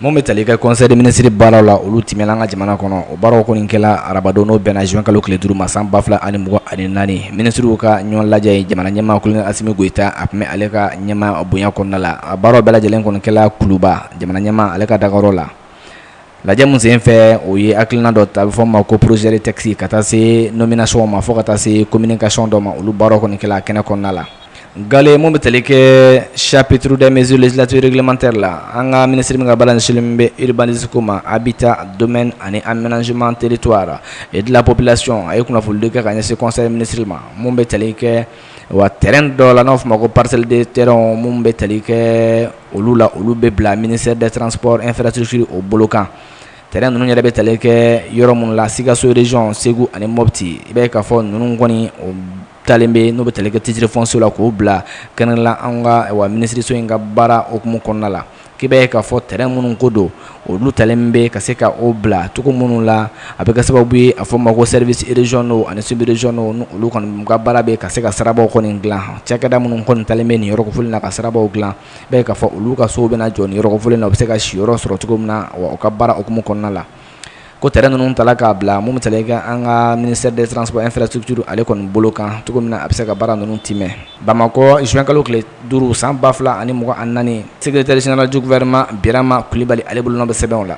Mun bɛ tali kɛ conseil des ministres baaraw la olu tɛmɛna an ka jamana kɔnɔ o baaraw kɔni kɛla arabadon n'o bɛnna zuwɛnkalo tile duuru ma san ba fila ani mugan ani naani minisiriw ka ɲɔgɔn lajɛ ye jamana ɲɛmaa Kolonɛli Asimi Goyita a tun bɛ ale ka ɲɛmaa bonya kɔnɔna la a baaraw bɛɛ lajɛlen kɔni kɛla Kuluba jamana ɲɛmaa ale ka dagayɔrɔ la lajɛ min sen fɛ o ye hakilina dɔ ta a bɛ fɔ ma ko projet de texte ka taa se nomination ma fo ka taa se communication dɔ ma olu baara kɔni kɛla kɛnɛ kɔnɔna la Gale mo bɛ teli kɛ saptuuru dɛ mze latremantɛ la an ka minisiri min ka baara insin bɛ iribансeko ma a bɛ taa don ani an msiman teri to a e dilanpopbilasiɔn a ye kunnafonidi kɛ ka ɲɛ se kɔsɔn minisiri ma minnu bɛ teli kɛ wa tɛrɛn dɔ la n'a tuma ma ko paseliden tɛ minnu bɛ teli kɛ olu la olu bɛ bila minisɛ da tranp efɛrɛreti o bolo kan t ninnu yɛrɛ bɛ teli kɛ yɔrɔ minnu la siigasoyur segu ani mɔpti i bɛ ka fɔ ninnu kɔni o Talen bɛ n'o bɛ tali kɛ titre foncier la k'o bila kɛnɛ la an ka wa minisiriso in ka baara hukumu kɔnɔna la k'i b'a ye k'a fɔ terrain minnu ko don olu talen bɛ ka se ka o bila cogo minnu la a bɛ kɛ sababu ye a bɛ fɔ o ma ko services régionaux ani sous régionaux ni olu kɔni ka baara bɛ ka se ka sirabaw kɔni dilan cakɛda minnu kɔni talen bɛ nin yɔrɔ kofɔlen in na ka sirabaw dilan i b'a ye k'a fɔ olu ka sow bɛna jɔ nin yɔrɔ kofɔlen in na u bɛ se ka siyɔrɔ sɔrɔ cogo min na wa u ka baara hukumu kɔnɔna la ko tɛ ninnu ta k'a bila mun ta i ka an ka mini de tranp an fɛ tuuruuru ale kɔni bolo kan cogo min na a bɛ se ka baara ninnu tɛmɛn bamakɔ zkalo tile duuru san 2 fila ani mɔgɔ an naani sɛgɛrɛre zinaraj wɛrɛma bima kulibali ale bolo bɛ sɛbɛnbɛw la